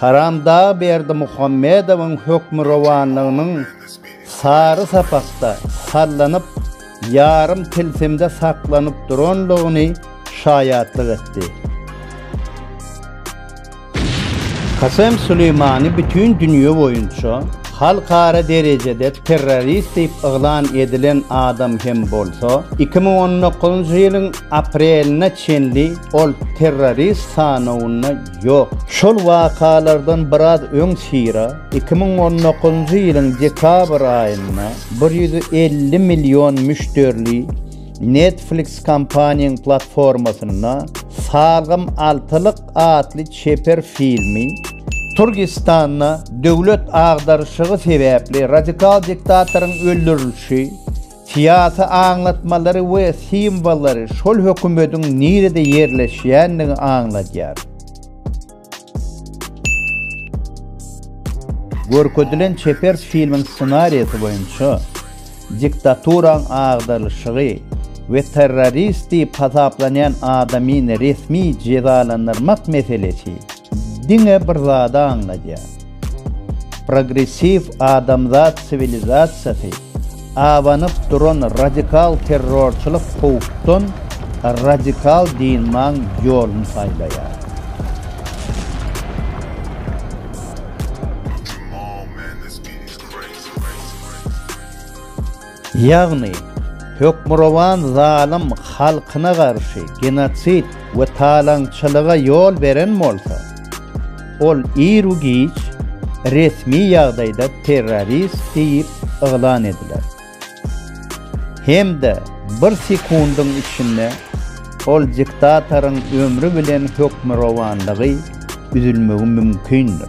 Haramdag Berdimuhamedowyň hökmürowanlygynyň sary sapakda sallanyp, ýarym tilsimde saklanyp duranlygyny şaýatlyk etdi. Kasem Suleýmani bütin dünýe boýunça halkara derejede terrorist diýip yglan edilen adam hem bolsa, iki müň on dokuzynjy ýylyň aprelinde çenli ol terrorist sanawynda Ýok. Şol wakalardan biraz öň Sira iki müň on dokuzynjy ýylyň dekabr aýynda bir ýüz elli million müşderili Netflix kompaniýaň platformasynda Salgym altylyk atly çeper filmi, Türgistanda döwlet agdaryşygy sebäpli radikal diktatoryň öldürilişi, Syýasy aňlatmalary we simwollary şol hökümediň nirede ýerleşýändigini aňladýar. Görkezilen çeper filmiň ssenariýasy boýunça diktaturaň agdarylyşygy we terrorist diýip hasaplanýan adamyny resmi jezalandyrmak meselesi diňe bir zady aňladýar. Progressiw adamzat siwilizasiýasy abanyp duran radikal terrorçylyk howpdan radikal dynmaň ýoluny saýlaýar. Ýagny, hökmürowan zalym halkyna garşy genosid we talaňçylyga ýol beren bolsa, ol iru-giç resmi ýagdaýda terrorist diýip yglan ediler. Hem-de bir sekundyň içinde ol diktatoryň ömri bilen hökmürowanlygy üzülmegi mümkindir.